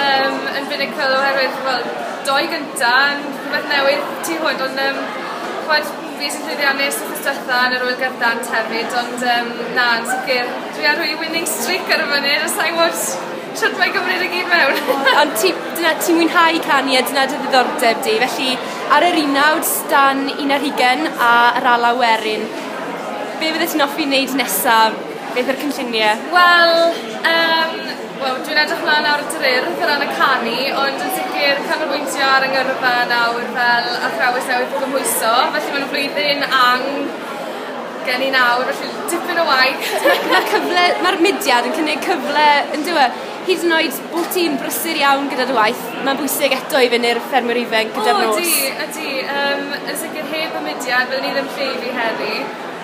Yym yn finical oherwydd wel dou gynta yn rhwbeth newydd tu hwnt ond yym ch'mod fi sy'n llwyddiannus wthnos dwetha yn yr ŵyl gyrdant hefyd ond yym na yn sicir dwi ar rei winning streak ar y funud a sai'n wbod shwt mae'n cymryd e gyd mewn. Ond ti dyna ti'n mwynhau canu a dyna dy ddiddordeb di felly ar yr un nawr stan un ar hugen a yr alaw werin be' fyddet ti'n offi neud nesa? Beth yw'r cynllunie? Wel yym Wel, dwi'n edrych mlaen nawr at yr Urdd o ran y canu, ond yn sicr canolbwyntio ar y ngyrfa nawr fel athrawes newydd gymhwyso, felly mae'n flwyddyn ang gen i nawr, felly tipyn o waith. Mae cyfle, mae'r mudiad yn cynnig cyfle yn dywe, hyd yn oed bod ti'n brysur iawn gyda dy waith, mae'n bwysig eto i fyny'r ffermwyr ifanc gyda'r nos. O, ydy, ydy, um, yn sicr heb y mudiad, byddwn i ddim lle i fi heddi.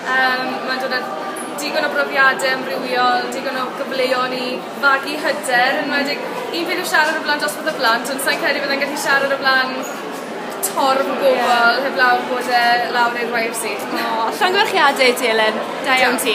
Yym mae'n dod â digon o brofiade amrywiol, digon o gyfleon i fagu hyder, enwedig un peth yw siarad o flan dosbarth o blant ond sai'n credu byddai'n gallu siarad o flan torf o bobol... Ie. ...heblaw bod e lawr i'r wair si. O, llongyfarchiade i ti Elin. Da iawn ti.